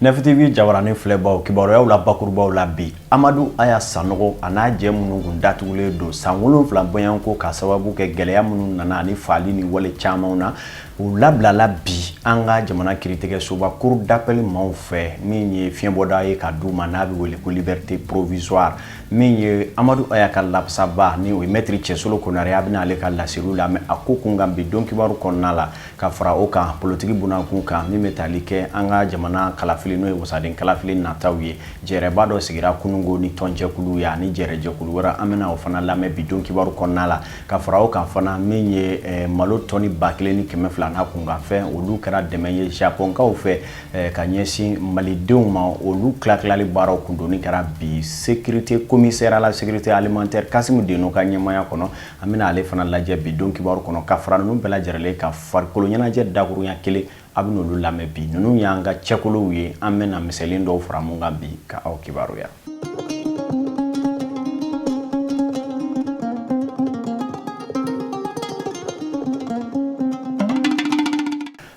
nɛfitivi jabarani filɛbaw kibaruyaw la bakurubaw la bi amadu aya sanɔgɔ a n'a jɛ minnu kun datugulen don san wolonfila bɔɲɔgɔnko ka sababu kɛ gɛlɛya minnu nana ani faali ni wale camanw na U labilala bi an ka jamana kiritigɛ soba cour d'appel maaw fɛ min ye fiɲɛbɔda ye ka d'u ma n'a bɛ wele ko liberté provisoire min ye amadu aya ka lafasabaa ni o ye maître cɛsolo konare an bɛna ale ka laseliw lamɛn a ko kun kan bi don kibaru kɔnɔna la ka fara o kan politiki bunda kunkan min bɛ tali kɛ an ka jamana kalafili n'o ye wasaden kalafili nata ye jɛrɛba dɔ sigira kununko ni tɔnjɛkulu ye ani jɛrɛjɛkulu wɛrɛ an bɛna o fana lamɛn bi don kibaru kɔnɔna la ka fara o kan fana min ye eh, malo tɔni ba kelen ni kɛmɛ fila n'a kunkanfɛn olu kɛra dɛmɛ ye japonkaw fɛ eh, ka ɲɛsin malidenw ma olu tilatilali baaraw kundoni kɛra bi sécurité commissaire à la sécurité alimentaire kasimu deno ka ɲɛmaya kɔnɔ an bɛna ale fana lajɛ bi don kibaru kɔnɔ ka fara ninnu bɛɛ lajɛrɛlen kan farikolo ɲɛnajɛ dakurunya kelen an bɛn'olu lamɛn bi ninnu y'an ka cɛkolow ye an bɛna misɛnnin dɔw fara mun kan bi ka aw kibaruya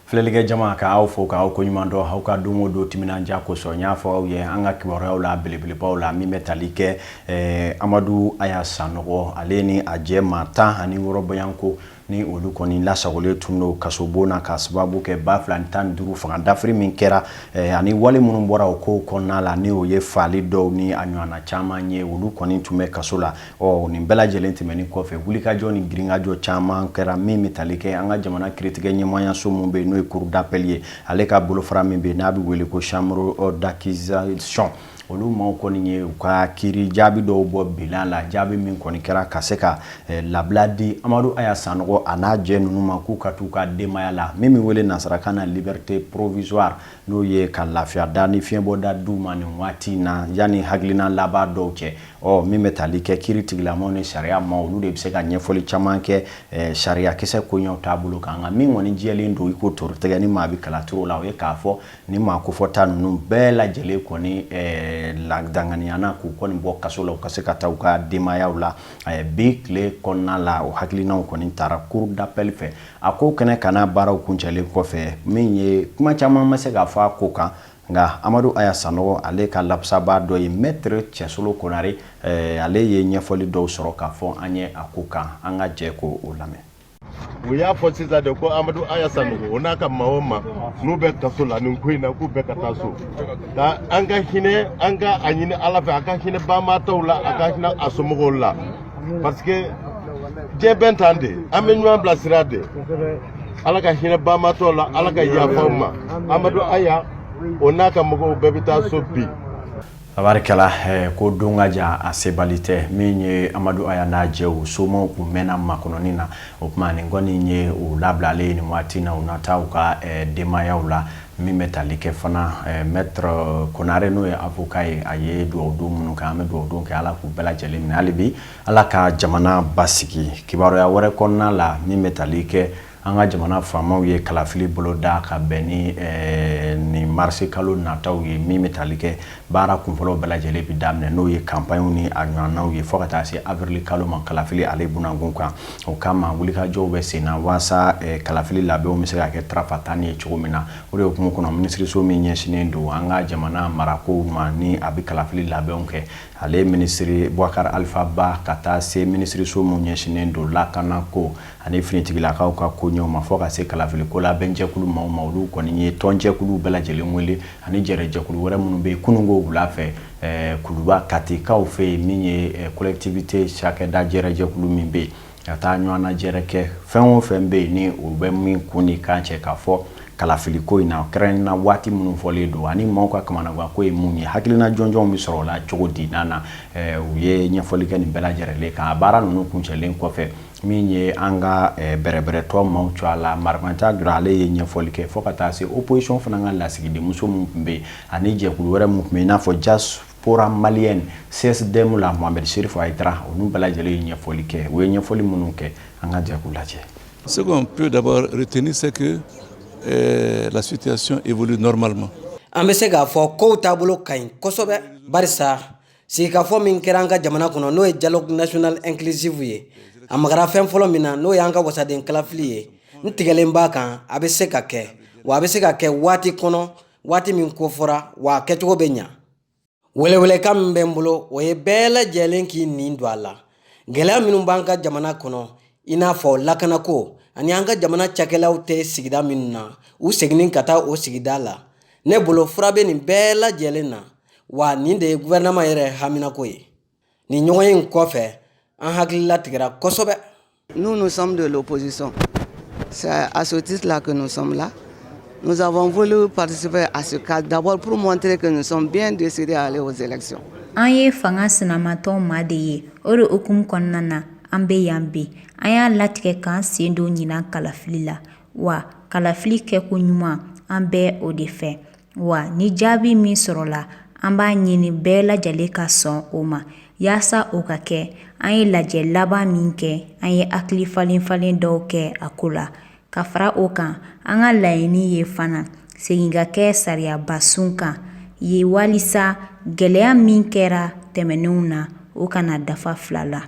filɛlikɛ jama ka aw fo k'aw koɲuman dɔn aw ka don o don timinandiya kosɔn n y'a fɔ aw ye an ka kibaruyaw la belebelebaw la min bɛ tali kɛ eh, amadu aya sanɔgɔ ale ni a jɛ maa tan ani wɔɔrɔ bɔɲɔgɔnko ni olu kɔni lasagolen tun don kasobon na ka sababu kɛ ba fila ni tan ni duuru fanga dafiri min kɛra eh, ani wale minnu bɔra o kow kɔnɔna la ni o ye faali dɔw ni a ɲɔgɔnna caman ye olu kɔni tun bɛ kaso la ɔ nin bɛɛ lajɛlen tɛmɛnen kɔfɛ wulikajɔ ni girinkajɔ caman kɛra min bɛ tali kɛ an ka jamana kiritigɛ ɲɛmɔgɔyaso min bɛ yen n'o ye cour d'appel ye ale ka bolofara min bɛ yen n'a bɛ wele ko chambre d'accusation Olu maaw kɔni ye u ka kiri jaabi dɔw bɔ bila la jaabi min kɔni kɛra ka se ka eh, labila di amadu aya sanɔgɔ a n'a jɛ ninnu ma k'u ka t'u ka denbaya la min bɛ wele nasarakan na liberté provisoire n'o ye ka lafiya da ni fiɲɛbɔda d'u ma nin waati na yanni hakilina laban dɔw cɛ ɔ min bɛ tali kɛ kiritigɛla maaw ni sariya maaw olu de bɛ se ka ɲɛfɔli caman kɛ eh, sariyakisɛ koɲɛw taabolo kan nka min kɔni jɛlen don i ko torotigɛ ni maa bɛ kalacogo la o ye k'a fɔ Nin maa kofɔta ninnu bɛɛ lajɛlen kɔni danganiyana k'u kɔni bɔ kaso la u ka se ka taa u ka denbayaw la bi tile kɔnɔna la o hakilinaw kɔni tara cour d'appel fɛ a ko kɛnɛkanna baaraw kuncɛlen kɔfɛ min ye kuma caman ma se ka fɔ a ko kan nka amadu aya sanɔgɔ ale ka lafasabaa dɔ ye maître cɛsolo konare ale ye ɲɛfɔli dɔw sɔrɔ k'a fɔ an ye a ko kan an ka jɛ k'o lamɛn u y'a fɔ sisan de ko amadu aya sanogo o n'a ka maa o maa n'u bɛ kaso la nin ko in na k'u bɛɛ ka taa so ka an ka hinɛ an ka a ɲini ala fɛ a ka hinɛ banbaatɔw la a ka hinɛ a somɔgɔw la parce que diɲɛ bɛ tan de an bɛ ɲɔgɔn bilasira de ala ka hinɛ banbaatɔw la ala ka yafa u ma amadu aya o n'a ka mɔgɔw bɛɛ bɛ taa so bi Tabarikala ko don ka jan a sebali tɛ min ye amadu aya n'a jɛw somaw tun mɛnna makɔnɔni na o tuma nin kɔni ye u labilalen ye nin waati na u na taa u ka denbayaw la min bɛ tali kɛ fana maître konare n'o ye avocat ye a ye dugawu don minnu kɛ an bɛ dugawu don kɛ ala k'u bɛɛ lajɛlen minɛ hali bi ala ka jamana basigi kibaruya wɛrɛ kɔnɔna la min bɛ tali kɛ an ka jamana faamaw ye kalafili boloda ka bɛn ni eh, ni marisi kalo nataw ye min bɛ tali kɛ baara kunfɔlɔw bɛɛ lajɛlen bɛ daminɛ n'o ye kanpaɲw ni a ɲɔgɔnnaw ye fo ka taa se avrili kalo ma kalafili ale bunankun kan o kama wulikajɔw bɛ sen na walasa eh, kalafili labɛnw bɛ se ka kɛ tarafa tan ye cogo min na o de hukumu kɔnɔ minisiriso min ɲɛsinnen don an ka jamana marakow ma ni a bɛ kalafili labɛnw kɛ ale minisiri bubakari alifa ba ka taa se minisiriso min ɲɛsinnen don lakana ko ani finitigilakaw ka koɲɛw ma fo ka se kalafiliko labɛnjɛkulu maaw ma olu kɔni ye tɔnjɛkulu bɛɛ lajɛlen wele ani jɛrɛjɛkulu wɛrɛ minnu bɛ yen kununko wula fɛ eh, kuluba katikaw fɛ yen min ye eh, collectivité cakɛda jɛrɛjɛkulu min bɛ yen ka taa ɲɔgɔn najɛrɛ kɛ fɛn o fɛn bɛ yen ni o bɛ min kun ni kan cɛ k'a fɔ kalafiliko in na kɛrɛnkɛrɛnna waati minnu fɔlen don ani maaw ka kamanaganko ye mun ye hakilina jɔnjɔnw bɛ sɔrɔ o la cogo di n'a na eh, u ye ɲɛfɔli kɛ nin bɛɛ lajɛrɛlen kan a baara ninnu kuncɛlen kɔfɛ min ye an ka eh, bɛrɛbɛrɛtɔn maaw tɔgɔ la marimanca jara ale ye ɲɛfɔli kɛ fo ka taa se opposition fana ka lasigidenmuso min tun bɛ yen ani jɛkulu wɛrɛ min tun bɛ yen i n'a fɔ diaspora malienne csdm la mohamɛd serif ayidara olu bɛɛ lajɛlen ye ɲɛfɔli kɛ u ye ɲɛfɔli minnu kɛ an ka jɛ k'u lajɛ Ce qu'on peut d'abord retenir, c'est que euh, la situation évolue normalement. An bɛ se k'a fɔ kow taabolo ka ɲi kosɛbɛ barisa sigikafɔ min kɛra an ka jamana kɔnɔ n'o ye dialogue national inclusive ye a magara fɛn fɔlɔ min na n'o y'an ka wasaden kalafili ye n tigɛlen b'a kan a bɛ se ka kɛ wa a bɛ se ka kɛ waati kɔnɔ waati min ko fɔra wa a kɛcogo bɛ ɲa welewelekan min bɛ n bolo o ye bɛɛ lajɛlen k'i nin don a la gɛlɛya minnu b'an ka jamana kɔnɔ i n'a fɔ lakanako ani an ka jamana cakɛlaw tɛ sigida minnu na u seginni ka taa o sigida la ne bolo fura bɛ nin bɛɛ lajɛlen na wa nin de ye guvɛrɛnaman yɛrɛ haminako ye nin ɲɔgɔnye in kɔfɛ an hakilila tigɛra kosɛbɛ Nous, nous sommes de l'opposition. C'est à ce titre-là que nous sommes là. Nous avons voulu participer à ce cadre d'abord pour montrer que nous sommes bien décidés à aller aux élections. An ye fanga sinamatɔn maa de ye o de hukumu kɔnɔna na an bɛ yan bi an y'a latigɛ k'an sen don ɲinan kalafili la wa kalafili kɛko ɲuman an bɛ o de fɛ wa ni jaabi min sɔrɔla an b'a ɲini bɛɛ lajɛlen ka sɔn o ma yaasa o ka kɛ an ye lajɛ laban min kɛ an ye hakili falen falen dɔw kɛ a ko la ka fara o kan an ka laɲini ye fana segin ka kɛ sariyabasun kan ye walisa gɛlɛya min kɛra tɛmɛnenw na o kana dafa fila la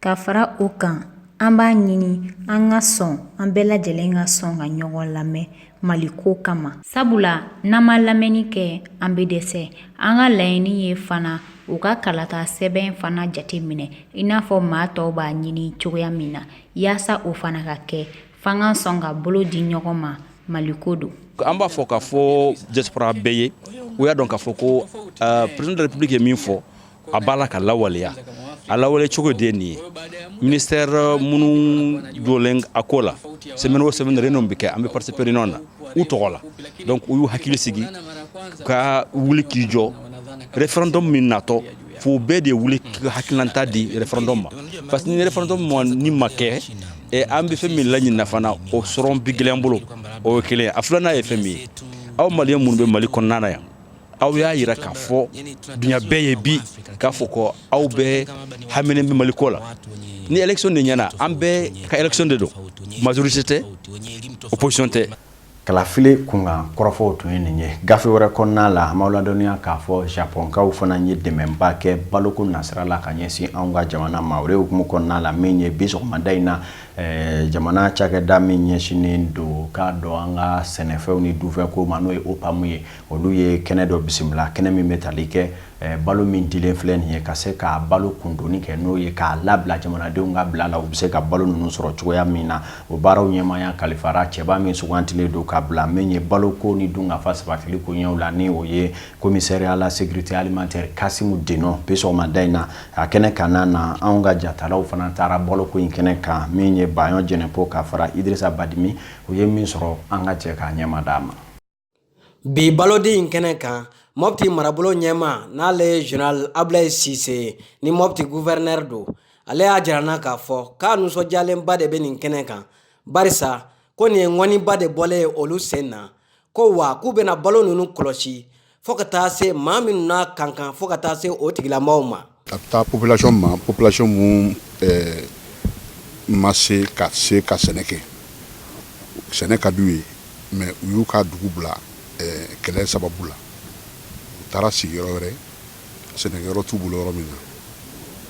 ka fara o kan an b'a ɲini an ka sɔn an bɛɛ lajɛlen ka sɔn ka ɲɔgɔn lamɛn mali ko kama sabula n'an ma lamɛnni kɛ an bɛ dɛsɛ an ka laɲini ye fana u ka kalata sɛbɛn fana jate minɛ i n'a fɔ maa tɔw b'a ɲini cogoya min na yaasa o fana ka kɛ f'an ka sɔn ka bolo di ɲɔgɔn ma mali ko don an b'a fɔ k'a fɔ diaspora bɛɛ ye u y'a dɔn k'a fɔ ko uh, président de la république ye min fɔ a b'a la k'a lawaleya a lawale cogo de nin ye ministère minnu jɔlen a ko la semaine o semaine réunion bɛ kɛ an bɛ participer réunion na u tɔgɔ la donc u y'u hakili sigi ka wuli k'i jɔ référendum min natɔ fo bɛɛ de ye wuli hakilinata di référendum ma parce que ni référendum nin ma kɛ an bɛ fɛn min laɲini na fana o sɔrɔ bɛ gɛlɛya an bolo o ye kelen a filanan ye fɛn min ye aw maliens minnu bɛ mali kɔnɔna yan aw y'a jira k'a fɔ dunya bɛɛ ye bi k'a fɔ ko aw bɛɛ haminen bɛ mali ko la ni élection de ɲɛna an bɛɛ ka élection de don majorité tɛ opposition tɛ kalafili kunkan kɔrɔfɔw tun ye nin ye gafe wɛrɛ kɔnɔna la an b'aw ladɔnniya k'a fɔ japonkaw fana ye dɛmɛba kɛ baloko nasira la ka ɲɛsin anw ka jamana ma o de hukumu kɔnɔna la min ye bi sɔgɔmada in na Ɛɛ jamana cakɛda min ɲɛsinen don k'a dɔn an ka sɛnɛfɛnw ni dunfɛnko ma n'o ye OPAM ye olu ye kɛnɛ dɔ bisimila kɛnɛ min bɛ tali kɛ balo min dilen filɛ nin ye ka se ka balo kundoni kɛ n'o ye k'a labila jamanadenw ka bila la u bɛ se ka balo ninnu sɔrɔ cogoya min na o baaraw ɲɛmaaya kalifara cɛba min sugandilen don k'a bila min ye balo ko ni dunkafa sabatiliko ɲɛ la ni o ye commissaire à la sécurité alimentaire kasimu denɔn bi sɔgɔma da in na A kɛnɛ kan na anw ka jatalaw fana taara balo ko in kɛnɛ kan min ye bayɔn jɛnɛpo ka fara idrisa badimi u ye min sɔrɔ an ka jɛ ka ɲɛ mada a ma bi balodi in kɛnɛ kan mɔti marabolo ɲɛmaa n'ale ye général abulayi sise ye ni mɔti gouverneur don ale y'a jira an na k'a fɔ k'a nisɔndiyalenba de bɛ nin kɛnɛ kan barisa ko nin ye ŋɔniba de bɔlen ye olu sen na ko wa k'u bɛna balo ninnu kɔlɔsi fo ka taa se maa minnu n'a ka kan fo ka taa se o tigilamɔgɔw ma a bɛ taa population ma population min eh, ma se ka se ka sɛnɛ kɛ sɛnɛ ka d'u ye mais u y'u ka dugu bila eh, kɛlɛ sababu la u taara sigi yɔrɔ wɛrɛ sɛnɛkɛyɔrɔ t'u bolo yɔrɔ min na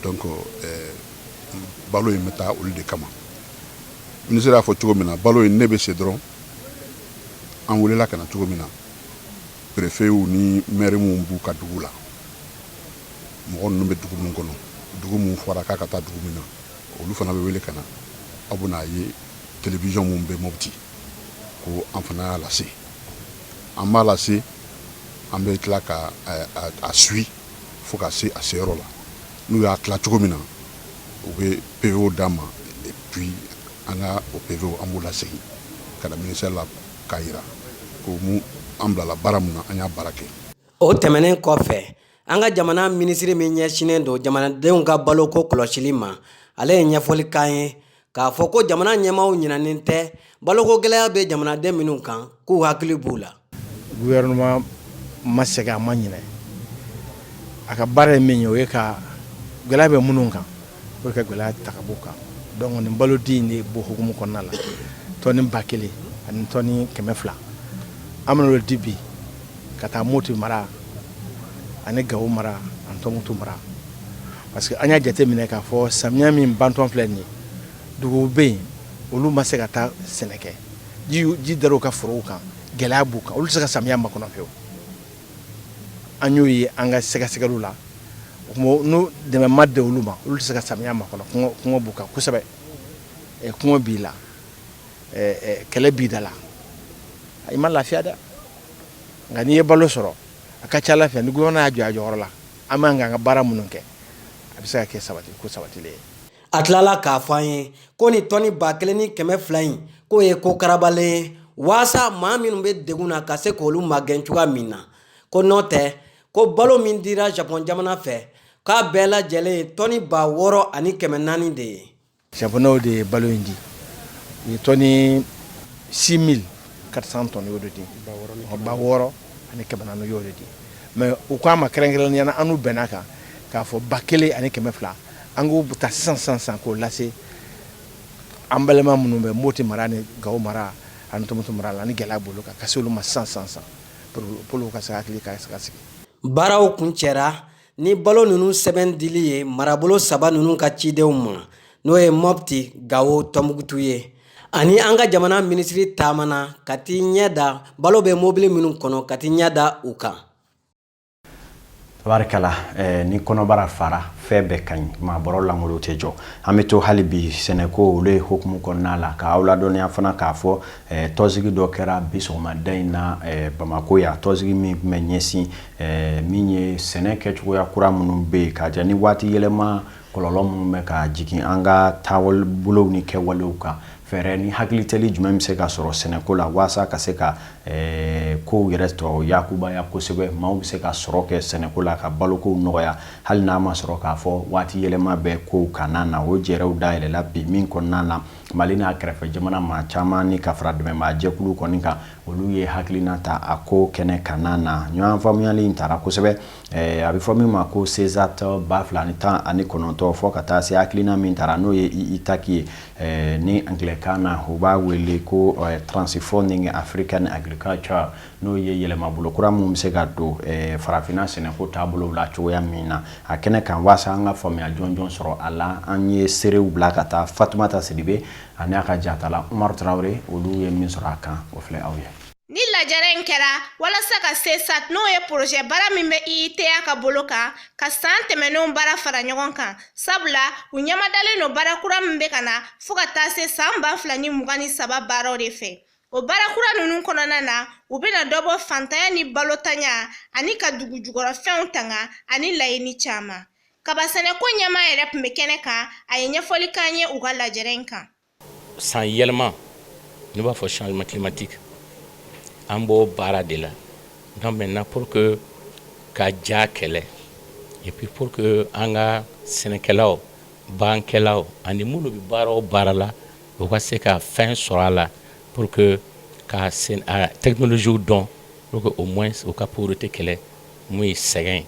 donc eh, balo in bɛ taa olu de kama minisiri y'a fɔ cogo min na balo in ne bɛ se dɔrɔn an welela ka na cogo min na perefew ni mɛri min b'u ka dugu la mɔgɔ ninnu bɛ dugu min kɔnɔ dugu min fɔra k'a ka taa dugu min na olu fana bɛ wele ka na aw bɛna a ye televizɔn min bɛ Mopti ko an fana y'a lase an b'a lase an bɛ tila ka a suit fo ka se a seyɔrɔ la n'u y'a tila cogo min na u bɛ PV d'an ma et puis an ka o PV an b'o lasegin ka na ministère la k'a yira komi an bilala baara min na an y'a baara kɛ o tɛmɛnen kɔfɛ an ka jamana minisiri min ɲɛsinnen don jamanadenw ka baloko kɔlɔsili ma ale ye ɲɛfɔli k'an ye k'a fɔ ko jamana ɲɛmaaw ɲinɛnen tɛ baloko gɛlɛya bɛ jamanaden minnu kan k'u hakili b'u la. Gouvernement ma sɛgɛn a ma ɲinɛ a ka baara ye min ye o ye ka gɛlɛya bɛ minnu kan pour ka gɛlɛya ta ka b'u kan donc nin balo di in de b'o hukumu kɔnɔna la tɔni ba kelen ani tɔni kɛmɛ fila an bɛn'o di bi ka taa Moti mara ani Gawo mara ani Tɔnbukutu mara Parce que an y'a jate minɛ k'a fɔ samiyɛ min bantɔ filɛ nin ye duguw bɛ yen olu ma se ka taa sɛnɛ kɛ ji dar'u ka forow kan gɛlɛya b'u kan olu tɛ se ka samiyɛ makɔnɔ fiyewu an y'o ye an ka sɛgɛsɛgɛliw la n'o dɛmɛ ma di olu ma olu tɛ se ka samiyɛ makɔnɔ kɔngɔ b'u kan kosɛbɛ kɔngɔ b'i la kɛlɛ b'i da la i ma lafiya dɛ nka n'i ye balo sɔrɔ a ka ca Ala fɛ ni gouvernement y'a jɔ a jɔyɔrɔ la An b'an ka an ka baara minnu kɛ a bɛ se ka kɛ sabati ko sabatilen ye a tilala k'a fɔ an ye ko nin tɔni ba kelen ni kɛmɛ fila in k'o ye ko karabalen ye waasa maa minnu bɛ degun na ka se k'olu magɛn cogoya min na ko n'o tɛ ko balo min dira japɔn jamana fɛ k'a bɛɛ lajɛlen ye tɔni ba wɔɔrɔ ani kɛmɛ naani de ye Japonɛw de ye balo in di u ye tɔni 6400 tɔni y'o de di ba wɔɔrɔ ani kɛmɛ naani y'o de di mais u k'an ma kɛrɛnkɛrɛnnenya la an n'u bɛnn'a kan k'a fɔ ba kelen ani kɛmɛ fila an k'o bɛɛ ta sisan san san k'o lase an balima minnu bɛ Moti mara ni Gawo mara ani Tɔnbukutu mara la ni gɛlɛya b'olu kan k'a se olu ma sisan san san pour ka sigi baaraw kuncɛ ni balo ninnu sɛbɛn dili ye marabolo saba ninnu ka cidenw ma n'o ye mɔpti gawo tɔnbukutu ye ani an ka jamana minisiri taamana ka t'i ɲɛ da balo bɛ mobili minnu kɔnɔ ka t'i ɲɛ da u kan tabarikala eh, ni kɔnɔbara fara fɛn bɛɛ ka ɲi maa bɔrɔ langolon tɛ jɔ an bɛ to hali bi sɛnɛko olu ye hukumu kɔnɔna la k'aw ladɔnniya fana k'a fɔ tɔnsigi dɔ kɛra bi sɔgɔmada in na bamakɔ yan tɔnsigi min tun bɛ ɲɛsin min ye sɛnɛ kɛ cogoya kura minnu bɛ yen ka jɛ ni waati yɛlɛma kɔlɔlɔ minnu bɛ ka jigin an ka taabolow ni kɛwalew kan fɛɛrɛ ni hakilitali jumɛn bɛ se ka sɔrɔ sɛnɛko la walasa ka se ka ko yɛrɛ tɔ yakubaya kosɛbɛ maaw bɛ se ka sɔrɔ kɛ sɛnɛko la ka balokow nɔgɔya hali n'a ma sɔrɔ k'a fɔ waati yɛlɛma bɛ kow kanna na o jɛrɛw dayɛlɛla bi min kɔnɔna na mali n'a kɛrɛfɛ jamana maa caman ni ka fara dɛmɛbaa jɛkulu kɔni kan olu ye hakilina ta a ko kɛnɛ kanna na ɲɔgɔn faamuyali in tara kosɛbɛ eh, a bɛ fɔ min ma ko sezat ba fila ni tan ani kɔnɔntɔn fɔ ka taa se hakilina min tara n'o ye itaki ye eh, ni angilɛkan na u b'a wele ko eh, transforming african agriculture n'o ye yɛlɛmabolo kura minnu bɛ se ka don eh, farafinna sɛnɛko taabolow la cogoya min na a kɛnɛ kan waasa an ka faamuya jɔnjɔn sɔrɔ a la an ye seerew bila ka taa fatumata sidibe ani a ka jatala umaru tarawele olu ye min sɔrɔ a kan o filɛ aw ye nin lajɛrɛ in kɛra walasa ka sezat n'o ye porozɛ baara min bɛ IITA ka bolo kan ka saan tɛmɛnenw baara fara ɲɔgɔn kan sabula u ɲɛmadalen no baara kura min bɛ ka na fɔɔ ka taa se saan ba fila ni mugan ni saba baaraw de fɛ O baara kura ninnu kɔnɔna na u bɛna dɔ bɔ fantanya ni balotanya ani ka dugujukɔrɔfɛnw tanga ani laɲini caman kaba sɛnɛko ɲɛmaa yɛrɛ tun bɛ kɛnɛ kan a ye ɲɛfɔli k'an ye u ka lajɛrɛ in kan san yɛlɛma n'i b'a fɔ changement climatique an b'o baara de la donc maintenant pour que ka ja kɛlɛ et puis pour que an ka sɛnɛkɛlaw bagankɛlaw ani minnu bɛ baara o baara la u ka se ka fɛn sɔrɔ a la pour que ka technologies dɔn pour que au moins u ka pauvreté kɛlɛ mun ye sɛgɛn ye.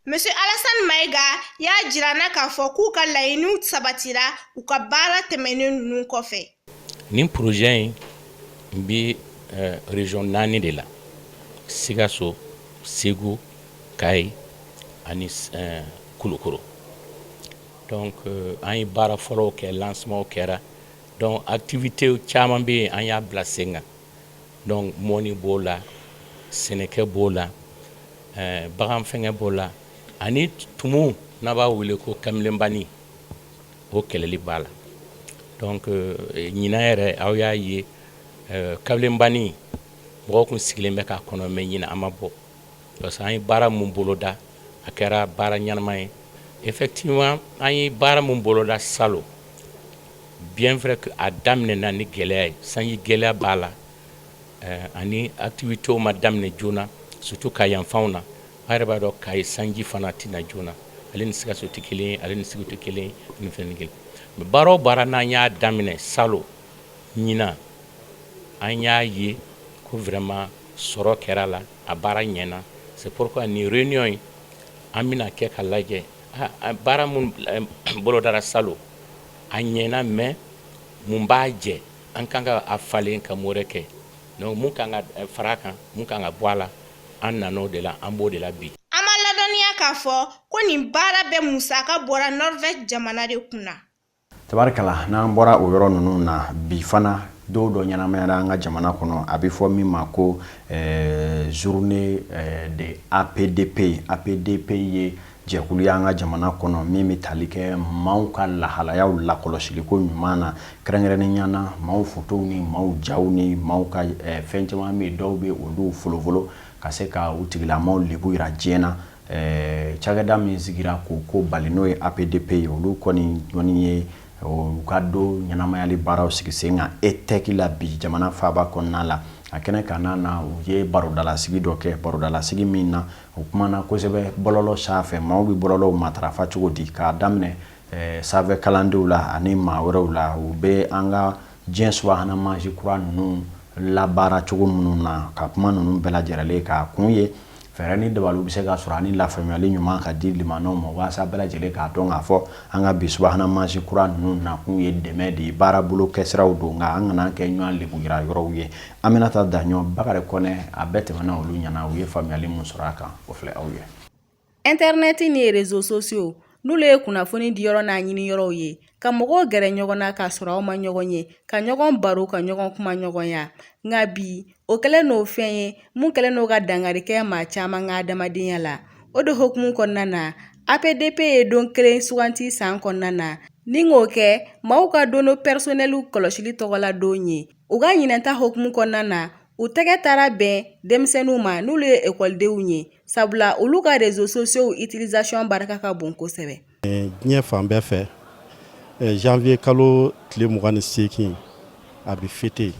Monsieur Alassane Maïga y'a jira an na k'a fɔ k'u ka laɲiniw sabatira u ka baara tɛmɛnen ninnu kɔfɛ. Nin projet in bɛ euh, région naani de la Sikaso, Segu, Kayi ani euh, Kulukoro. Donc euh, an ye baara fɔlɔw kɛ lancement kɛra donc activité caman bɛ yen an y'a bila sen kan donc mɔni b'o la sɛnɛkɛ b'o la euh, bagan fɛngɛ b'o la ani tumu n'an b'a wele ko kamelenbani o kɛlɛli b'a la donc euh, ɲinan yɛrɛ aw y'a ye kamelenbani mɔgɔw kun sigilen bɛ k'a kɔnɔ mais ɲinan a ma bɔ parce que an ye baara min boloda a kɛra baara ɲɛnama ye effectivement an ye baara min boloda salon bien vrai que a daminɛna ni gɛlɛya ye sanji gɛlɛya b'a la eh, ani activités ma daminɛ joona surtout ka yanfanw na an yɛrɛ b'a dɔn kayi sanji fana tɛ na joona ale ni sikaso tɛ kelen ye ale ni segu tɛ kelen ye ni fɛn ni kelen mais baara o baara n'an y'a daminɛ salon ɲinan an y'a ye ko vraiment Sɔrɔ kɛra la a baara ɲɛna c'est pourquoi nin réunion in an bɛna kɛ ka lajɛ baara min bolodara salon a ɲɛna mais mun b'a jɛ an ka kan ka a falen ka améliorer kɛ donc mun kan ka fara kan mun kan ka bɔ a la an nana o de la an b'o de la bi an ma ladɔnniya k'a fɔ ko nin baara bɛɛ musaka bɔra Norvège jamana de kun na tabarikala n'an bɔra o yɔrɔ ninnu na bi fana don dɔ ɲɛnamayara an ka jamana kɔnɔ a bɛ fɔ min ma ko eh, journée eh, de APDP APDP ye jɛkulu y'an ka jamana kɔnɔ min bɛ tali kɛ maaw ka lahalayaw lakɔlɔsiliko ɲuman na kɛrɛnkɛrɛnnenya na maaw fotow ni maaw jaw ni maaw ka eh, fɛn caman bɛ yen dɔw bɛ olu folofolo ka se ka u tigilamaaw lebu yira diɲɛ na Ɛɛ cakɛda min sigira k'o ko bali n'o ye APDP ye olu kɔni jɔni ye u ka don ɲɛnamayali baaraw sigi sen kan ETEC la bi jamana faaba kɔnɔna la a kɛnɛ kan na na u ye barodalasigi dɔ kɛ barodalasigi min na u kumana kosɛbɛ bɔlɔlɔ sanfɛ maaw bɛ bɔlɔlɔw matarafa cogo di k'a daminɛ sanfɛ kalandenw la ani maa wɛrɛw la u bɛ an ka diɲɛ subahana mansi kura ninnu labaara cogo minnu na ka kuma ninnu bɛɛ lajɛlen ka kun ye fɛɛrɛ ni dabaliw bɛ se ka sɔrɔ ani lafaamuyali ɲuman ka di maaw ma walasa bɛɛ lajɛlen k'a dɔn k'a fɔ an ka bi subahana mansi kura ninnu nakun ye dɛmɛ de ye baarabolo kɛsiraw don nka an kana kɛ ɲɔgɔn lebu yira yɔrɔw ye Aminata Daɲɔgɔ Bakari Kɔnɛ a bɛɛ tɛmɛna olu ɲɛ na u ye faamuyayali min sɔrɔ a kan o filɛ aw ye Ɛntɛrinɛti ni réseaux sociaux n'olu ye kunnafoni di yɔrɔ n'a ɲini yɔrɔw ye ka mɔgɔw gɛrɛ ɲɔgɔn na k'a sɔrɔ aw ma ɲɔgɔn ye ka ɲɔgɔn baro ka ɲɔgɔn kuma ɲɔgɔnya nka bi o kɛlen n'o fɛn ye mun kɛlen n'o ka dankari kɛ maa caman ka adamadenya la o de hukumu kɔnɔna na apdp ye don kelen suganti san kɔnɔna na ni k'o kɛ maaw ka données personnelles kɔlɔsili tɔgɔla don ye u ka ɲinan ta hukumu kɔnɔna na u tɛgɛ taara bɛn denmisɛnninw ma n'olu ye ekɔlidenw ye sabula olu ka réseaux sociaux utilisation barika ka bon kosɛbɛ diɲɛ fan bɛɛ fɛ janvier kalo tile 20 ni seegin a bɛ fêter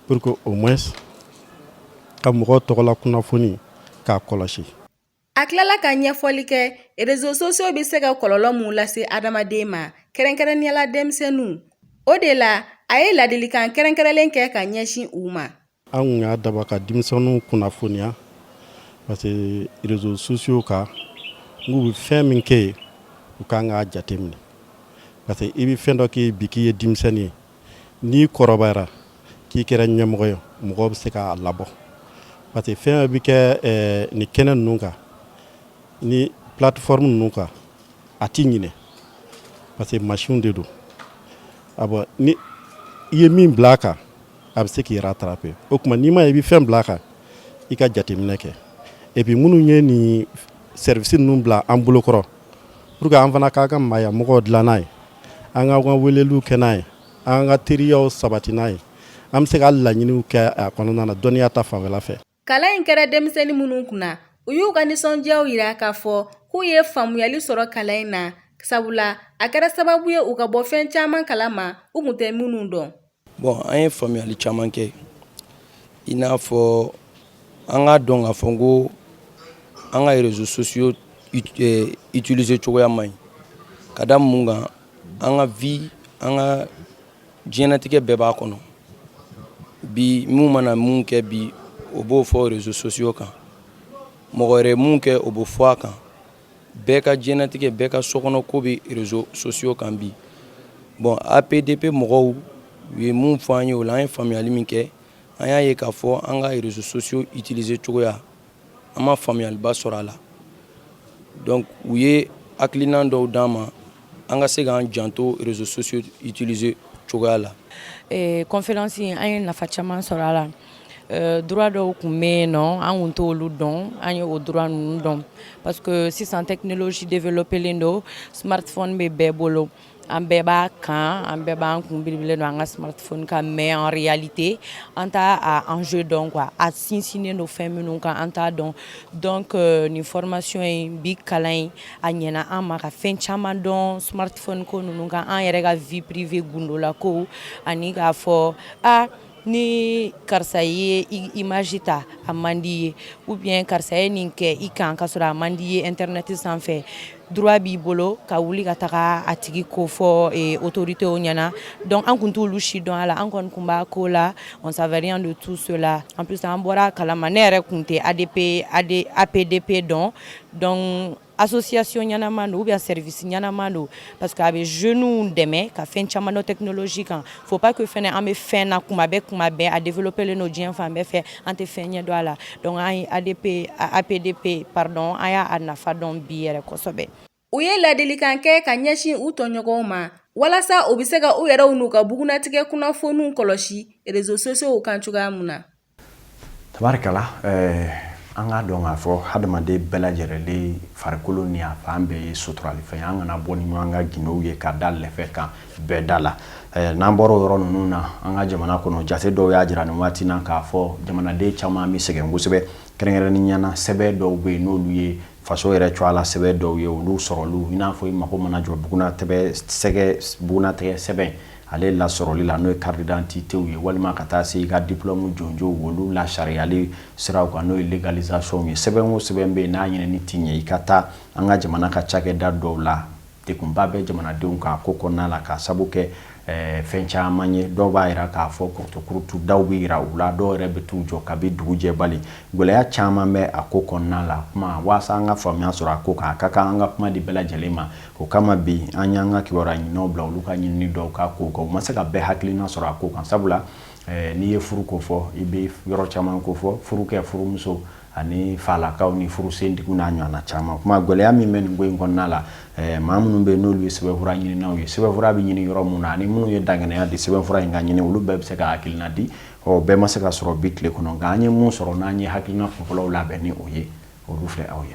pour que au moins ka mɔgɔ tɔgɔla kunnafoni k'a kɔlɔsi A tilala ka ɲɛfɔli kɛ réseaux sociaux bɛ se ka kɔlɔlɔ mun lase adamaden ma kɛrɛnkɛrɛnninya la denmisɛnninw o de la a ye ladilikan kɛrɛnkɛrɛnlen kɛ ka ɲɛsin u ma an y'a daba ka denmisɛnninw kunnafoniya parce que réseaux sociaux kan n'u bɛ fɛn min kɛ yen u ka kan k'a jateminɛ parce que i bɛ fɛn dɔ kɛ bi k'i ye denmisɛnnin ye n'i kɔrɔbayara k'i kɛra ɲɛmɔgɔ ye mɔgɔ bɛ se k'a labɔ parce que fɛn bɛ kɛ eh, ni kɛnɛ ninnu kan ni plateforme ninnu kan a t'i ɲinɛ parce que machine de don a bɔ ni i ye min bila a kan a bɛ se k'i rattraper o tuma n'i ma ye i bɛ fɛn bila a kan i ka jateminɛ kɛ et puis minnu ye nin service ninnu bila an bolokɔrɔ Pour que an fana k'an ka maaya magow dilan n'a ye an ka ka weleliw kɛ n'a ye an ka teriyaw sabati n'a ye an bɛ se ka laɲiniw kɛ a kɔnɔna na dɔnniya ta fanfɛla fɛ kalan in kɛra denmisɛnnin minnu kunna u y'u ka nisɔndiyaw jira k'a fɔ k'u ye faamuyali sɔrɔ kalan in na sabula a kɛra sababu ye u ka bɔ fɛn caman kala ma u tun tɛ minnu dɔn Bon an ye faamuyali caman kɛ i n'a fɔ an k'a dɔn k'a fɔ ko an ka réseaux sociaux utiliser cogoya man ɲi ka da mun kan an ka vie an ka diɲɛnatigɛ bɛɛ b'a kɔnɔ bi minnu mana mun kɛ bi o b'o fɔ réseaux sociaux kan mɔgɔ wɛrɛ mun kɛ o b'o fɔ a kan bɛɛ ka diɲɛnatigɛ bɛɛ ka sokɔnɔ ko bɛ réseaux sociaux kan bi bon apdp mɔgɔw u ye mun fɔ an ye o la an ye faamuyali min kɛ an y'a ye k'a fɔ an ka réseaux sociaux utiliser cogoya an ma faamuyaliba sɔrɔ a la donc u ye hakilinan dɔw d'an ma an ka se k'an janto réseaux sociaux utiliser cogoya la conférence in an ye nafa caman sɔrɔ a la Euh, droit dɔw tun bɛ yen nɔ an tun t'olu dɔn an ye o droit ninnu dɔn parce que sisan technologie développélen don smartphone bɛ bɛɛ bolo an bɛɛ b'a kan an bɛɛ b'an kun biribilen don an ka smartphone kan mais en réalité an t'a a enjeu dɔn quoi a sinsinnen don fɛn minnu kan an t'a dɔn donc euh, nin formation in bi kalan in a ɲɛna an ma ka fɛn caman dɔn smartphone ko ninnu kan an yɛrɛ ka vie privée gundola ko ani k'a fɔ a ah, ni karisa ye image ta a man di ye ou bien karisa ye nin kɛ i kan ka sɔrɔ a man di ye internet sanfɛ droit b'i bolo ka wuli ka taga a tigi ko fɔ autoritéw ɲɛna donc an tun t'olu si dɔn a la an kɔni tun b'a ko la on savait rien de tout cela en plus an bɔra a kalama ne yɛrɛ tun tɛ apdp dɔn association ɲɛnama don ou bien service ɲɛnama don parce que a bɛ jeunes dɛmɛ ka fɛn caman dɔn technologie kan faut pas que fana an bɛ fɛn na kuma bɛɛ kuma bɛɛ a développélen don diɲɛ fan bɛɛ fɛ an tɛ fɛn ɲɛ dɔn a la donc an ye APDP pardon an y'a nafa dɔn bi yɛrɛ kosɛbɛ u ye ladilikan kɛ ka ɲɛsin u tɔɲɔgɔnw ma walasa u bɛ se ka u yɛrɛ n'u ka bugunatigɛ kunnafoniw kɔlɔsi réseaux sociaux kan cogoya min na tabarikala eh, an k'a dɔn k'a fɔ hadamaden bɛɛ lajɛrɛlen farikolo ni a fan bɛɛ ye suturalifɛn ye an kana bɔ ni ɲɔgɔn ka gindow ye ka da lɛfɛ kan bɛɛ da la eh, n'an bɔra o yɔrɔ ninnu na an ka jamana kɔnɔ jate dɔw y'a jira nin waati na k'a fɔ jamanaden caman bɛ sɛgɛn kosɛbɛ kɛrɛnkɛrɛnnenya na sɛbɛn dɔw bɛ yen n'olu ye faso yɛrɛ cɔ a la sɛbɛn dɔw ye olu sɔrɔli i n'a fɔ i mago mana jɔ bugunatɛgɛ sɛgɛ bugunatɛgɛ sɛbɛn ale lasɔrɔli la n'o ye carte d'identité ye walima ka taa se i ka diplôme jɔnjɔnw olu lasariyali siraw kan n'o ye légalisation ye sɛbɛn o sɛbɛn bɛ yen n'a ɲinini t'i ɲɛ i ka taa an ka jamana ka cakɛda dɔw la degunba bɛ jamanadenw kan ko kɔnɔna la k'a sabu kɛ eh, fɛn caman ye dɔw b'a yira k'a fɔ kurutukurutu daw bɛ yira u la dɔw yɛrɛ bɛ t'u jɔ kabi dugu jɛbali gɛlɛya caman bɛ a ko kɔnɔna la kuma waasa an ka faamuya sɔrɔ a ko kan a ka kan an ka kuma di bɛɛ lajɛlen ma O kama bi an y'an ka kibaruya ɲininaw bila olu ka ɲinini dɔw k'a ko kan u ma se ka bɛɛ hakilina sɔrɔ a ko kan sabula eh, n'i ye furu ko fɔ i bɛ yɔrɔ caman ko fɔ furukɛ furumuso ani falakaw ni furusentigiw n'a ɲɔgɔnna caman kuma gɛlɛya min bɛ nin ko in kɔnɔna la eh, maa minnu bɛ yen n'olu ye sɛbɛnfura ɲininaw ye sɛbɛnfura bɛ ɲini yɔrɔ minnu na ani minnu ye dangɛnɛya di sɛbɛnfura in ka ɲini olu bɛɛ bɛ se ka hakilina di ɔ bɛɛ ma se ka sɔrɔ bi tile kɔnɔ nka an ye min sɔrɔ n'an ye hakilina kunfɔlɔw labɛn ni o ye olu filɛ aw ye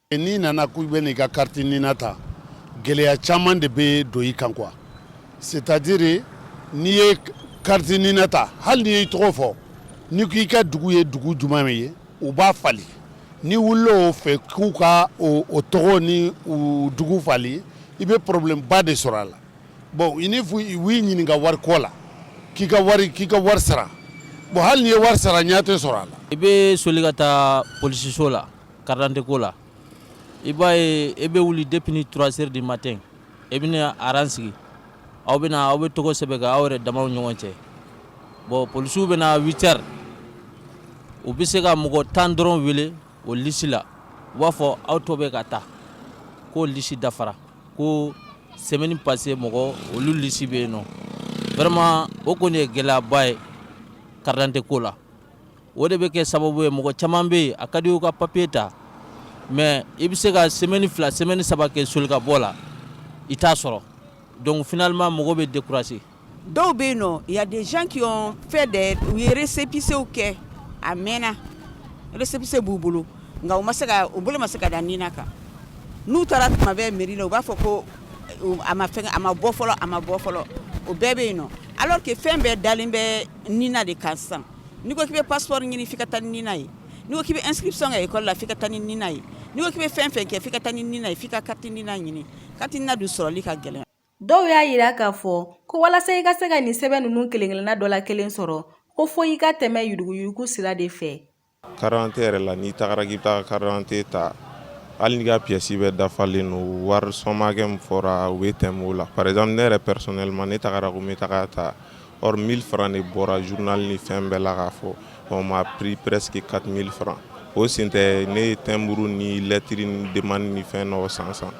N'i nana k'i bɛ n'i ka carte NINA ta gɛlɛya caman de bɛ don i kan quoi c'est à dire n'i ye carte NINA ta hali n'i y'i tɔgɔ fɔ n'i ko i ka dugu ye dugu jumɛn min ye u b'a falen n'i wulila o fɛ k'u ka o o tɔgɔ ni o dugu falen i bɛ problème ba de sɔrɔ a la bon ni u y'i ɲininka wari ko la k'i ka wari k'i ka wari sara bon hali n'i ye wari sara ɲɛ tɛ sɔrɔ a la. I bɛ soli ka taa polisiso la. Carte d'identité ko la i b'a ye i bɛ wuli depuis ni trois heures du matin i bɛ na aran sigi aw bɛ na aw bɛ tɔgɔ sɛbɛn aw yɛrɛ dama ɲɔgɔn cɛ bon polisiw bɛ na huit heures u bɛ se ka mɔgɔ tan dɔrɔn wele o lisi la u b'a fɔ aw tɔ bɛɛ ka taa ko lisi dafara ko semaine passée mɔgɔ olu lisi bɛ yen nɔ vraiment o kɔni ye gɛlɛyaba ye carte d'identité ko la o de bɛ kɛ sababu ye mɔgɔ caman bɛ yen a ka di u ka papiye ta mais i bɛ se ka semaine fila semaine saba kɛ soli ka bɔ la i t'a sɔrɔ donc finalement mɔgɔ bɛ décourager dɔw bɛ yen nɔ y a des gens qui ont fait des u ye récépissé kɛ a mɛnna récépissé b'u bolo nka u ma se u bolo ma se ka da NINA kan n'u taara tuma bɛɛ mairie la u b'a fɔ ko a ma a ma bɔ fɔlɔ a ma bɔ fɔlɔ o bɛɛ bɛ yen nɔ alors que fɛn bɛɛ dalen bɛ NINA de kan sisan N'i ko k'i bɛ passeport ɲini f'i ka taa ni NINA ye, n'i ko k'i bɛ inscription kɛ école la f'i ka taa ni NINA ye, n'i ko k'i bɛ fɛn o fɛn kɛ f'i ka taa ni NINA ye f'i ka carte NINA ɲini carte NINA dun sɔrɔli ka gɛlɛn. Dɔw y'a yira k'a fɔ ko walasa i ka se ka nin sɛbɛn ninnu kelen-kelenna dɔ la kelen sɔrɔ, ko fo i ka tɛmɛ yuruguyurugu sira de fɛ. Carte d'identité yɛrɛ la, n'i tagara k'i bɛ taa carte d'identité ta, hali n'i ka pièce bɛɛ dafalen don, wari somme hakɛ min fɔra u bɛ tɛmɛ o la. Par exemple ne yɛrɛ personnellement ne tagara ko n bɛ taga ta Or 1000 francs de bɔra journal ni fɛn bɛɛ la k'a fɔ on m'a pris presque 4000 francs o sen tɛ ne ye timbre ni lettre ni demande ni fɛn dɔw san san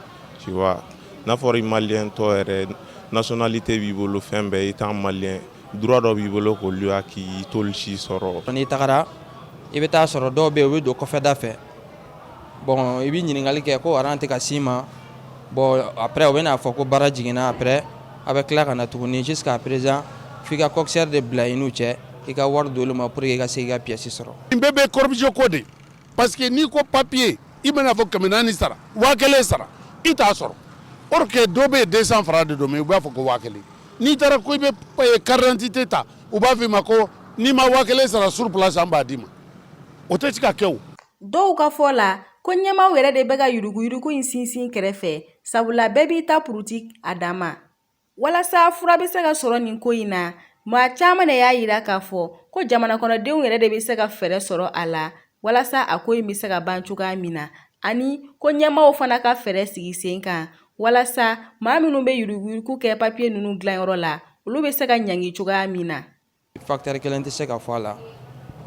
tu vois n'a fɔra i maliyɛn tɔ yɛrɛ nationalité b'i bolo fɛn bɛɛ étant maliyɛn droit dɔ b'i bolo k'olu y'a k'i i t'olu si sɔrɔ n'i tagara i bɛ taa sɔrɔ dɔw bɛ yen u bɛ don kɔfɛda fɛ bon i bɛ ɲininkali kɛ ko aran tɛ ka s'i ma bon après u bɛn'a fɔ ko baara jiginna après a bɛ tila ka na tuguni jusqu'à présent f'i ka kɔkisɛri de bila i n'u cɛ i ka wari d'olu ma pour que i ka se k'i ka pièce sɔrɔ nin bɛɛ bɛ corruption ko de parce que n'i ko papiye i bɛn'a fɔ kɛmɛ naani sara waa kelen sara i t'a sɔrɔ or dɔ bɛ yen deux cents francs de don u b'a fɔ ko waa kelen n'i taara ko i bɛ carte d'identité ta u b'a f' i ma ko n'i ma waa kelen sara sur place an b'a d'i ma o tɛ se ka kɛ dɔw ka fɔ la ko ɲɛmaaw yɛrɛ de bɛ ka yuruguyurugu in sinsin kɛrɛfɛ sabula bɛɛ b'i ta puruti a dan ma walasa fura bɛ se ka sɔrɔ nin ko in na maa caman de y'a yira k'a fɔ ko jamanakɔnɔdenw yɛrɛ de bɛ se ka fɛɛrɛ sɔrɔ a la walasa a ko in bɛ se ka ban cogoya min na ani ko ɲɛmaaw fana ka fɛɛrɛ sigi sen kan walasa maa minnu bɛ yuruguyurugu kɛ papiye ninnu dilanyɔrɔ la olu bɛ se ka ɲangi cogoya min na Fakitari kelen tɛ se ka fɔ a la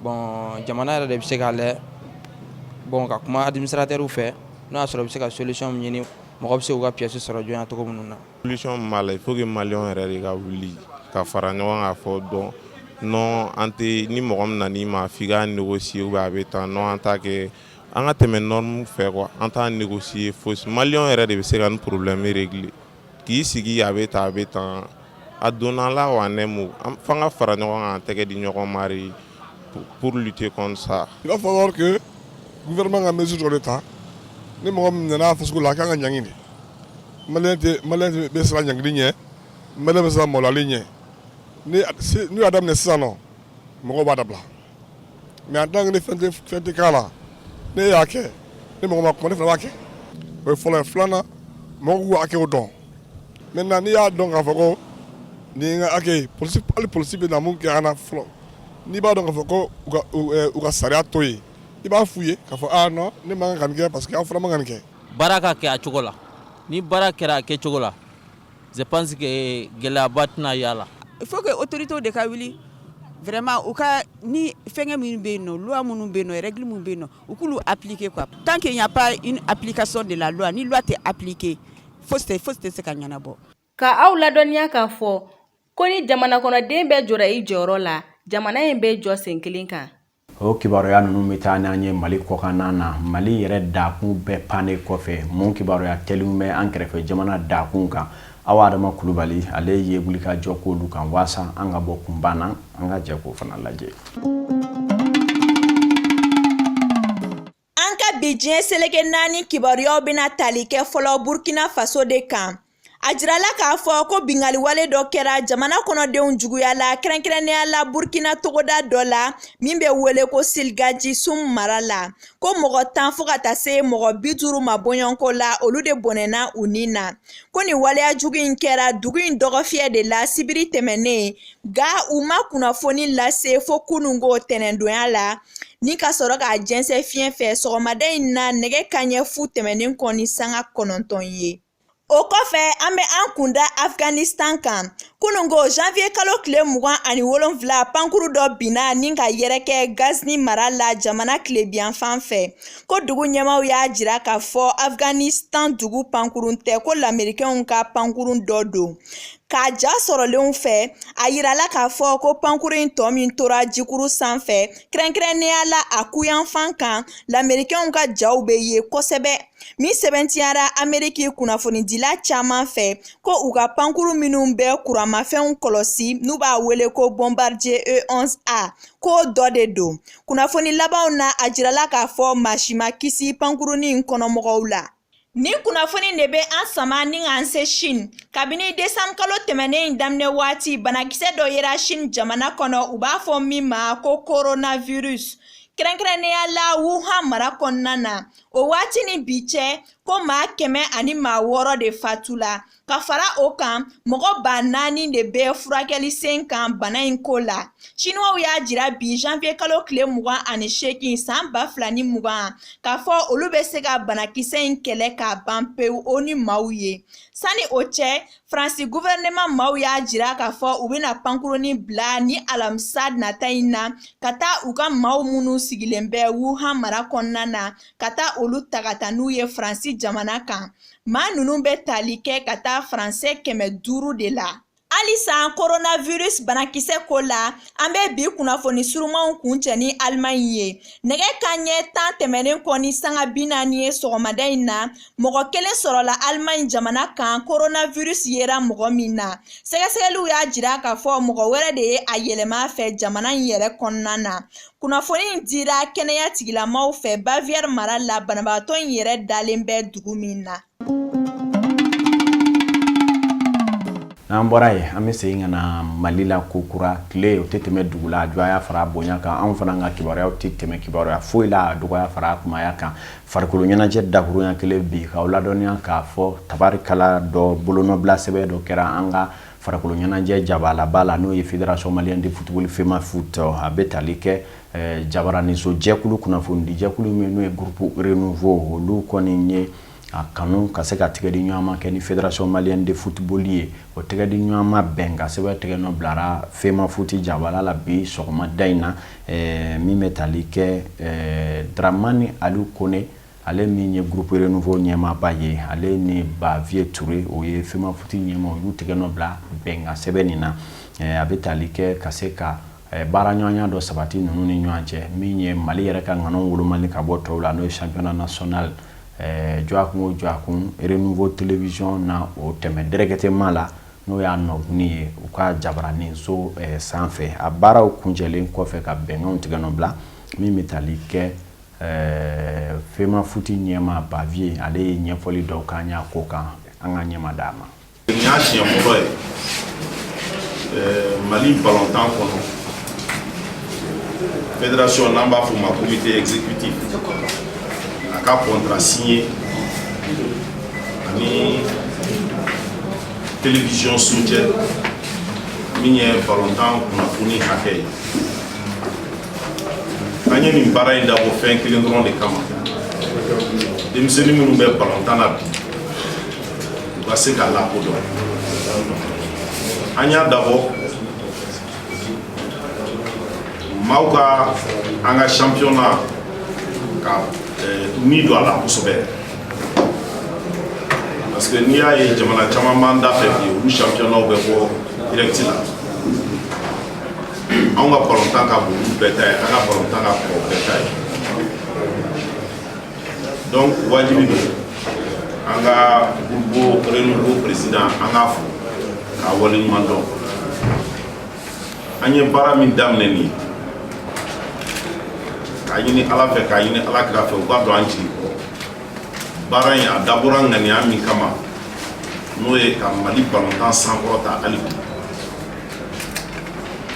bɔn jamana yɛrɛ de bɛ se k'a la bɔn ka kuma alimisaraw fɛ n'a y'a sɔrɔ bɛ se ka sosi ɲini mɔgɔ bɛ se u ka psi sɔrɔ jɔn cogo minnu na b'a la fo mali yɛrɛ de ka wuli ka fara ɲɔgɔn kan fɔ dɔn n an tɛ ni mɔgɔ min na ma f' nɛgɛsi u a bɛ taa n an ta kɛ an ka tɛmɛ n fɛ an taa nɛgɛsi fosi mali yɛrɛ de bɛ se ka porobilɛ miiriri k'i sigi a bɛ taa a bɛ tan a donnala wa ne fanga fara ɲɔgɔn kan tɛgɛ di ɲɔgɔnmari purli tɛ sa i b'a fɔ kɛ n vma ka misi dɔ de ta ni mɔgɔ min nana faso la a k'an ka ɲg bɛ siran ɲg ɲɛ m bɛ siran mɔlɔli ɲɛ n'u'a daminɛ sisan mɔgɔ b'a da bila mais en tant que ni fɛn tɛ k'a la ne y'a kɛ ni mɔgɔ ma kuma ne fana b'a kɛ o ye fɔlɔ ye filanan mɔgɔw k'u hakɛw dɔn maintenant n'i y'a dɔn k'a fɔ ko nin ye n ka hakɛ ye hali polisi bɛ na mun kɛ an na fɔlɔ n'i b'a dɔn k'a fɔ ko u ka sariya to yen i b'a f'u ye k'a fɔ aa non ne man kan ka nin kɛ parce que aw fana man kan ka nin kɛ baara ka kɛ a cogo la ni baara kɛra a kɛ cogo la Je pense gɛlɛyaba tɛna y'a la il faut que autoritéw de ka wuli vraiment u ka ni fɛnkɛ minnu bɛ yen nɔ loi minnu bɛ yen nɔ règle minnu bɛ yen nɔ u k'olu appliquer quoi tant qu'il n'y a pas une application de la loi ni loi tɛ appliquer fosi tɛ se ka ɲɛnabɔ k'aw ladɔnniya k'a fɔ ko ni jamana kɔnɔden bɛɛ jɔra i jɔyɔrɔ la jamana in bɛ jɔ sen kelen kan O kibaruya ninnu bɛ taa n'an ye mali kɔkanna na mali yɛrɛ dakunw bɛɛ pannen kɔfɛ mun kibaruya teliw bɛ an kɛrɛfɛ jamana dakunw kan awa adama kulubali ale ye wuli ka jɔ k'olu kan walasa an ka bɔ kunpan na an ka jɛ k'o fana lajɛ An ka bi diɲɛ seleke naani kibaruyaw bɛna tali kɛ fɔlɔ Burkina Faso de kan. A jirala k'a fɔ ko binkaliwale dɔ kɛra jamana kɔnɔdenw juguya la kɛrɛnkɛrɛnnenya la Burkina togoda dɔ la min bɛ wele ko Silgaji Sum mara la ko mɔgɔ tan fo ka taa se mɔgɔ bi duuru ma bɔɲɔgɔnko la olu de bɔnɛna u ni na ko nin waleya jugu in kɛra dugu in dɔgɔfiyɛ de la sibiri tɛmɛnnen nka u ma kunnafoni lase fo kununko tɛnɛndonya la ni ka sɔrɔ k'a jɛnsɛn fiɲɛ fɛ sɔgɔmada in na nɛgɛ kanɲɛ fu tɛmɛnen kɔ ni sanga kɔnɔntɔn ye o kɔfɛ an bɛ an kun da afghanistan kan kununko janvier kalo tile mugan ani wolonfila pankuru dɔ binna ni ka yɛrɛkɛ ghazni mara la jamana tilebiyanfan fɛ ko dugu ɲɛmaaw y'a jira k'a fɔ afghanistan dugu pankurun tɛ ko lamerikɛnw ka pankurun dɔ don K'a ja sɔrɔlenw fɛ a yirala k'a fɔ ko pankuru in tɔ min tora jikuru sanfɛ kɛrɛnkɛrɛnnenya la a kuyanfan kan lamerikɛnw ka jaw bɛ ye kosɛbɛ min sɛbɛntiyara ameriki kunnafonidila caman fɛ ko u ka pankuru minnu bɛ kuramafɛnw kɔlɔsi n'u b'a wele ko bombardier e11a k'o dɔ de don kunnafoni labanw na a jirala k'a fɔ maa si ma kisi pankurun in kɔnɔmɔgɔw la Ni kunnafoni de bɛ an sama ni k'an se Chine, kabini décembre kalo tɛmɛnen in daminɛ waati, banakisɛ dɔ yera Chine jamana kɔnɔ, u b'a fɔ min ma ko coronavirus, kɛrɛnkɛrɛnnenya la Wuhan mara kɔnɔna na. O waati ni bi cɛ, ko maa kɛmɛ ani maa wɔɔrɔ de fatula, ka fara o kan mɔgɔ ba naani de bɛ furakɛli sen kan bana in ko la siniwaw y'a jira bi janvier kalo tile mugan ani seegin san ba fila ni mugan k'a fɔ olu bɛ se ka banakisɛ in kɛlɛ k'a ban pewu o ni maaw ye sani o cɛ faransi guvɛrɛnɛma maaw y'a jira k'a fɔ u bɛna pankuruni bila ni alamisa nata in na ka taa u ka maaw minnu sigilen bɛ wuhan mara kɔnɔna na ka taa olu ta ka taa n'u ye faransi jamana kan Maa ninnu bɛ tali kɛ ka taa faransɛ kɛmɛ duuru de la halisa coronavirus banakisɛ ko la an bɛ bi kunnafoni surumanw kuncɛ ni alimaɲi ye nɛgɛ kanɲɛ tan tɛmɛnen kɔ ni sanga bi naani ye sɔgɔmada in na mɔgɔ kelen sɔrɔla alimaɲi jamana kan coronavirus yera mɔgɔ min na sɛgɛsɛgɛliw y'a jira k'a fɔ mɔgɔ wɛrɛ de ye a yɛlɛma fɛ jamana in yɛrɛ kɔnɔna na Kunnafoni in dira kɛnɛya tigilamaaw fɛ Bavière mara la banabagatɔ in yɛrɛ dalen bɛ dugu min na. N'an bɔra yen an bɛ segin ka na Mali la kokura tile o tɛ tɛmɛ dugu la a jɔya fara a bonya kan anw fana ka kibaruyaw tɛ tɛmɛ kibaruya foyi la a dɔgɔya fara a kunbaya kan farikolo ɲɛnajɛ dakurunya kelen bi k'aw ladɔnniya k'a fɔ tabarikala dɔ bolonɔbila sɛbɛn dɔ kɛra an ka Farikolo ɲɛnajɛ jabalaba la n'o ye Fédération malienne de football FEMAFOOT a bɛ tali kɛ ɛɛ jabaraninso jɛkulu kunnafonidi jɛkulu min n'o ye groupe renouveau olu kɔni ye a kanu ka se ka tɛgɛdiɲɔgɔnma kɛ ni Fédération malienne de football ye o tɛgɛdiɲɔgɔnma bɛnkan sɛbɛn tigɛ nɔ bilara FEMAFOOT jabala la bi sɔgɔmada in na ɛɛ min bɛ tali kɛ ɛɛ Dramane Aliou Kone Ale min ye groupe renouveau ɲɛmaaba ye ale ni Bavieux Touré o ye FEMAFOOT ɲɛmaa olu tigɛ nɔ bila bɛnkan sɛbɛn nin na a bɛ taali kɛ ka se ka baara ɲɔgɔnya dɔ sabati ninnu ni ɲɔgɔn cɛ min ye mali yɛrɛ ka ŋana woloma ka bɔ tɔw la n'o ye championnat national jɔ kun jɔ kun renouveau télévision na o tɛmɛ directement la n'o y'a nɔk ye u ka jabaraninso sanfɛ a baaraw kuncɛlen kɔfɛ ka bɛnkan tigɛ nɔ bila min bɛ taali kɛ Ɛɛ FEMAFOOT ɲɛmaa Bavieux ale ye ɲɛfɔli dɔw k'an y'a ko kan an ka ɲɛma d'a ma nin y'a siɲɛ fɔlɔ ye mali balɔntan kɔnɔ fédération n'an b'a fɔ ma comité exécutif a ka contrat signé ani télévision so cɛ min ye balɔntan kunnafoni hakɛ ye an ye nin baara in dabɔ fɛn kelen dɔrɔn de kama denmisɛnnin minnu bɛ balontan na bi u ka se ka lakodɔn an y'a dabɔ maaw ka an ka championnat ka eh, ni don a la kosɛbɛ parce que n'i y'a ye jamana caman b'an da fɛ bi olu championnatw bɛ bɔ direct la anw ka balontan ka bon olu bɛɛ ta ye an ka balontan ka kɔrɔ bɛɛ ta ye donc wajibi don an ka groupe renouveau président an k'a fo k'a waleɲuman dɔn an ye baara min daminɛ nin ye k'a ɲini ala fɛ k'a ɲini ala kira fɛ u ka don an jigi kɔrɔ baara in a dabɔra ŋaniya min kama n'o ye ka mali balontan sankɔrɔta hali bi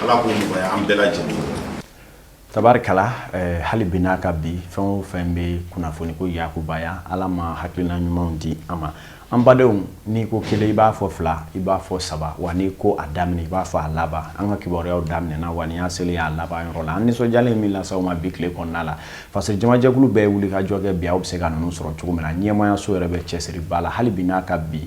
Ala k'o nɔgɔya an bɛɛ lajɛlen tabarikala hali bi n'a ka bi fɛn o fɛn bɛ kunnafoni ko yakubaya ala ma hakilina ɲumanw di an ma an badenw n'i ko kelen i b'a fɔ fila i b'a fɔ saba wa n'i ko a daminɛ i b'a fɔ a laban an ka kibaruyaw daminɛna wa nin y'a selen y'a laban yɔrɔ la an nisɔndiyalen min las'aw ma bi tile kɔnɔna la parce que jamajɛkulu bɛɛ wuli ka jɔ kɛ bi aw bɛ se ka ninnu sɔrɔ cogo min na ɲɛmaayaso yɛrɛ bɛ cɛsiri ba la hali bi n'a ka bi